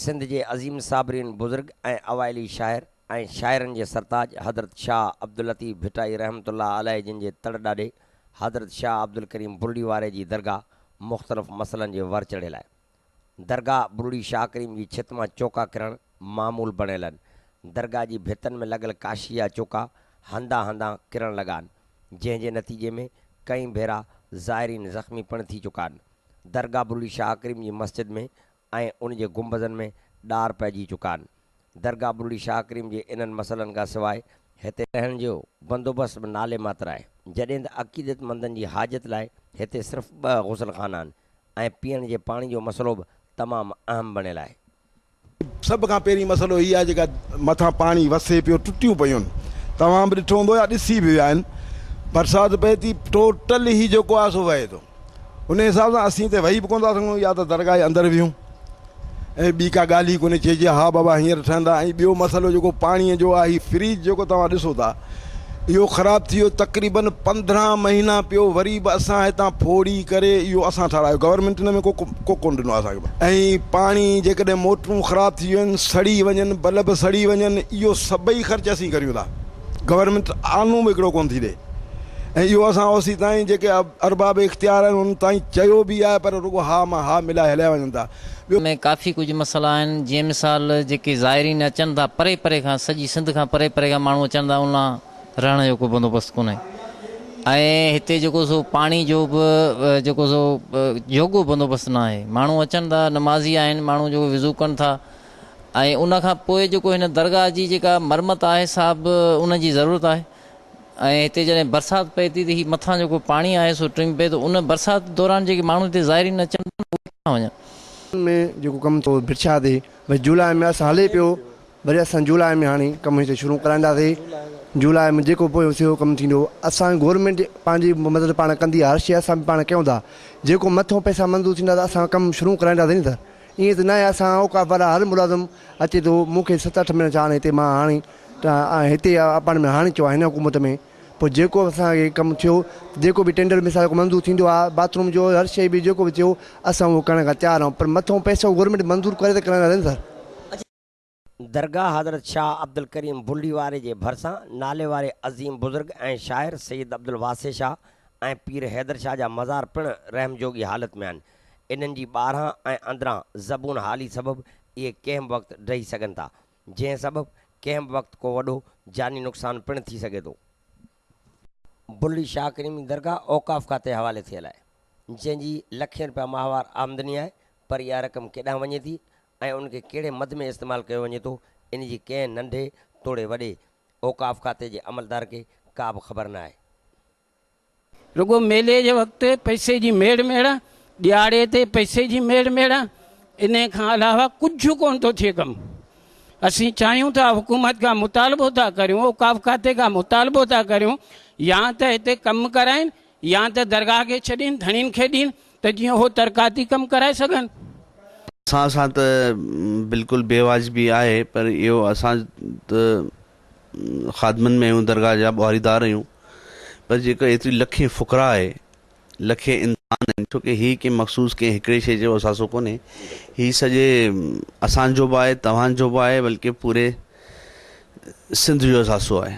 سنڌ جي عظيم صابرين بزرگ ۽ اوائلي شاعر ۽ شاعرن جي سرتاج حضرت شاهه عبداللطيف ڀٽائي رحمة الله عليه جن جي تڙ ڏاڏي حضرت شاهه عبدالڪريم بلڙي واري جي درگاهه مختلف مسئلن جي ور چڙهي لاء درگاهه بروڙي شاهه ڪريم جي ڇت مان چوڪا ڪرڻ معمول بڻيل هن. درگاهه جي ڀتن ۾ لڳل ڪاشي جا چوڪا هنڌان هنڌان ڪرڻ لڳا هن، جنهن جي نتيجي ۾ ڪئين ڀيرا زائرين زخمي پڻ ٿي چڪا هن. درگاهه بروڙي شاهه ڪريم جي مسجد ۾ ۽ ان جي گنبذن ۾ ڏار پئجي چڪا هن. درگاهه بروڙي شاهه ڪريم جي انهن مسئلن کان سواء هتي. رهڻ جو بندوبست به نالي ماتر آهي، جڏهن ته عقيدتمندن جي حاجت لاء هتي صرف ٻه غسل خانا هن، ۽ پيئڻ جي پاڻي جو مسئلو به تمام اهم بڻيل آهي. سڀ کان پهرين مسئلو هي آهي جيڪا مٿان پاڻي وسي پيو ٽٽيون پيون توهان به ڏٺو هوندو يا ڏسي به ويا آهن برسات پئي ٿي ٽوٽل هي جيڪو آهي سو وهي ٿو انهي حساب سان اسين ته وهي به ڪونه ٿا سگهون يا ته درگاهه جي اندر ويهون ۽ ٻي ڪا ڳالهه ئي ڪونهي چئجي ها بابا هينئر ٺهندا ۽ ٻيو مسئلو جيڪو پاڻيء جو آهي هي فريج جيڪو توهان ڏسو ٿا اهو خراب ٿي ويو تقريبن پندرهن مهينا پيو وري به اسان هتان ڦوڙي ڪري اهو اسان ٺارايو گورنمينٽ ان ۾ ڪو ڪونه ڏنو اسان کي ۽ پاڻي جيڪڏهن موٽرون خراب ٿي ويون سڙي وڃن بلب سڙي وڃن اهو سڀئي خرچ اسين ڪريون ٿا گورنمينٽ آنو به هڪڙو ڪونه ٿي ڏئي ۽ اهو اسان او سي تائين جيڪي ارباب اختيار آهن انهن تائين چيو به آهي پر رڳو ها مان ها ملائي هليا وڃن ٿا ٻيو ۾ ڪافي ڪجهه مسئلا آهن جيئن مثال جيڪي زائرين اچن ٿا پري پري کان سڄي سنڌ کان پري پري کان ماڻهو اچن ٿا ان لا رهڻ جو ڪو بندوبست ڪونهي ۽ هتي جيڪو سو پاڻي جو به جيڪو سو جوڳو بندوبست ناهي ماڻهو اچن ٿا نمازي آهن ماڻهو جيڪو وضو ڪن ٿا ۽ ان کان پوء جيڪو هن درگاهه جي جيڪا مرمت آهي سا به ان جي ضرورت آهي ۽ هتي جڏهن برسات پئي ٿي ته هي مٿان جيڪو پاڻي آهي سو ٽنگ پئي ٿو ان برسات دوران جيڪي ماڻهو هتي زائرين اچن ٿا اهي ڪٿان وڃن. ان ۾ جيڪو ڪم ٿو ڀرڇا تي ڀي جولاء ۾ اسان هلي پيو وري اسان جولاء ۾ هاڻي ڪم هتي شروع ڪرائينداسي جولاء ۾ جيڪو پوء سيو ڪم ٿيندو اسان گورنمينٽ پنهنجي مدد پاڻ ڪندي هر شي اسان به پاڻ ڪيون ٿا جيڪو مٿو پئسا منظور ٿيندا ته اسان ڪم شروع ڪرائينداسين ته ائين ته ناهي اسان اوقاف وارا هر ملازم اچي ٿو مون کي ست اٺ مهينا ڇا هاڻي هتي مان هاڻي هتي اپارٽمينٽ ۾ هاڻي ٿيو آهي هن حڪومت ۾ پوء جيڪو اسان کي ڪم ٿيو جيڪو به ٽينڊر مثال جيڪو منظور ٿيندو آهي باٿروم جو هر شيء به جيڪو به ٿيو اسان اهو ڪرڻ کان تيار آهيون پر مٿو پئسو گورنمينٽ منظور ڪري ته ڪرائيندا رينسر درگاهه حضرت شاهه عبدالڪريم بلڙي واري جي ڀرسان نالي واري عظيم بزرگ ۽ شاعر سيد عبدالواسع شاهه ۽ پير حيدر شاهه جا مزار پڻ رحم جوڳي حالت ۾ آهن. انهن جي ٻاهران ۽ اندران زبون حالي سبب اهي ڪنهن به وقت ڊهي سگهن ٿا، جنهن سبب ڪنهن به وقت ڪو وڏو جاني نقصان پڻ ٿي سگهي ٿو. بلڙي شاهه ڪريمي درگاهه اوقاف کاتي حوالي ٿيل آهي، جنهن جي لکين رپيا ماهوار آمدني آهي، پر اها رقم ڪيڏانهن وڃي ٿي ۽ ان کي ڪهڙي مد ۾ استعمال ڪيو وڃي ٿو ان جي ڪنهن ننڍي توڙي وڏي اوقاف کاتي جي عملدار کي ڪا به خبر نه آهي. رڳو ميلي جي وقت پئسي جي ميڙ ميڙ، ڏيهاڙي تي پئسي جي ميڙ ميڙ، انهي کان علاوه ڪجهه ڪونه ٿو ٿئي ڪم. اسين چاهيون ٿا حڪومت کان مطالبو ٿا ڪريون، اوقاف کاتي کان مطالبو ٿا ڪريون يا ته هتي ڪم ڪرائين يا ته درگاهه کي ڇڏين، ڌڻين کي ڏين ته جيئن هو ترقاتي ڪم ڪرائي سگهن. اسان سان ته بلڪل بي واجبي آهي پر اهو اسان ته خادمن ۾ آهيون درگاهه جا ٻهاري دار آهيون پر جيڪو ايتري لکين فقراء آهي لکين انسان آهن ڇو ڪي هي ڪي مخصوص ڪي هڪڙي شي جو اثاثو ڪونهي هي سڄي اسان جو به آهي توهان جو به آهي بلڪه پوري سنڌ جو اثاثو آهي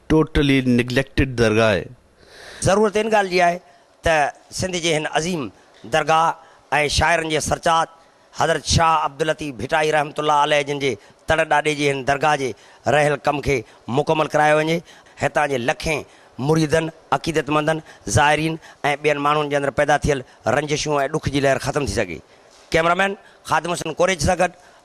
Totally Neglected درگاهه. ضرورت ان ڳالهه جي آهي ته سنڌ جي هن عظيم درگاهه ۽ شاعرن جي سرچاٽ حضرت شاهه عبداللطيف ڀٽائي رحمة الله عليه جن جي تڙ ڏاڏي جي هن درگاهه جي رهيل ڪم کي مڪمل ڪرايو وڃي. هتان جي لکين مريدن، عقيدتمندن، زائرين ۽ ٻين ماڻهن جي اندر پيدا ٿيل رنجشون ۽ ڏک جي لهر ختم ٿي سگهي. ڪئميرامين خادم حسن ڪوريچ سان گڏ